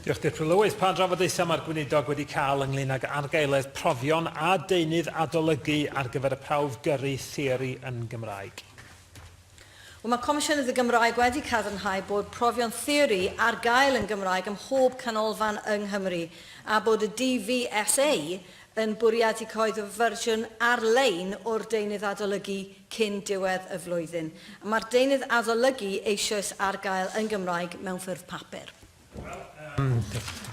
Diolch, Dirprwy Lywydd. Pa drafodaethau mae'r Gweinidog wedi cael ynglŷn ag argaeledd profion a deunydd adolygu ar gyfer y prawf gyrru theori yn Gymraeg? Wel, mae Comisiynydd y Gymraeg wedi cadarnhau bod profion theori ar gael yn Gymraeg ym mhob canolfan yng Nghymru a bod y DVSA yn bwriadu cyhoeddi fersiwn ar-lein o'r deunydd adolygu cyn diwedd y flwyddyn. Mae'r deunydd adolygu eisoes ar gael yn Gymraeg mewn ffurf papur. Wel, um,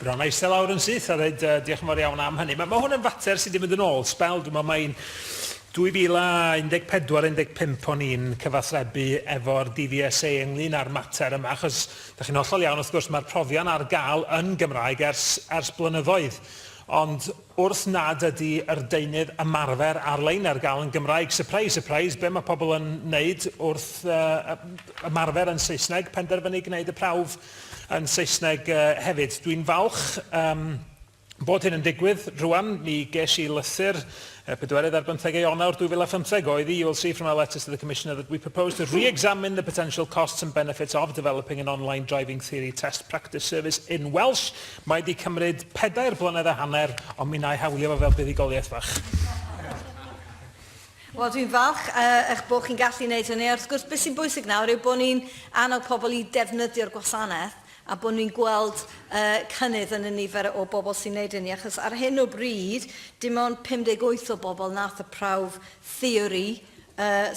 bron a eistedd lawr yn syth a dweud uh, diolch yn fawr iawn am hynny. Mae ma hwn yn fater sydd wedi mynd yn ôl sbel, dwi'n meddwl mae'n 2014-15 o'n i'n cyfathrebu efo'r DVSA ynglyn â'r mater yma, achos da chi'n hollol iawn, wrth gwrs, mae'r profion ar gael yn Gymraeg ers, ers blynyddoedd. Ond wrth nad ydy yr deunydd ymarfer ar-lein ar gael yn Gymraeg, surprise surprise, be mae pobl yn wneud wrth ymarfer yn Saesneg, penderfynu gwneud y prawf yn Saesneg hefyd. Dwi'n falch bod hyn yn digwydd rwan, mi ges i lythyr Y pedwerydd ar bymthegau Ionawr 2015 oedd i, you will see from our letters to the Commissioner that we propose to re-examine the potential costs and benefits of developing an online driving theory test practice service in Welsh. Mae di cymryd pedair blynedd a hanner, ond mi na'i hawlio fo fel buddugoliaeth fach. Wel, dwi'n falch uh, eich bod chi'n gallu wneud hynny. Wrth gwrs, beth sy'n bwysig nawr yw bod ni'n annog pobl i defnyddio'r gwasanaeth. a bod ni'n gweld cynnydd yn y nifer o bobl sy'n neud hynny, achos ar hyn o bryd, dim ond 58 o bobl nath y prawf theori,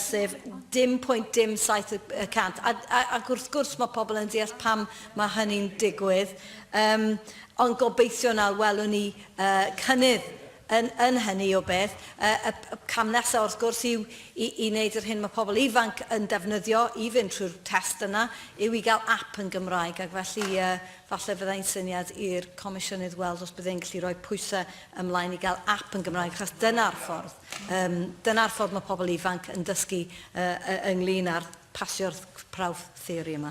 sef dim pwynt dim saith y cant, ac wrth gwrs mae pobl yn deall pam mae hynny'n digwydd, ond gobeithio nawr welwn ni cynnydd Yn yn hynny o beth, y y y cam nesa wrth gwrs yw i i wneud yr hyn mae pobl ifanc yn defnyddio i fynd trwy'r test yna, yw i gael ap yn Gymraeg ac felly yy falle fydda i'n syniad i'r Comisiynydd weld os bydd e'n gallu rhoi pwysau ymlaen i gael ap yn Gymraeg achos dyna'r ffordd yym dyna'r ffordd mae pobl ifanc yn dysgu yy yy ynglyn â'r pasio'r prawf theori yma.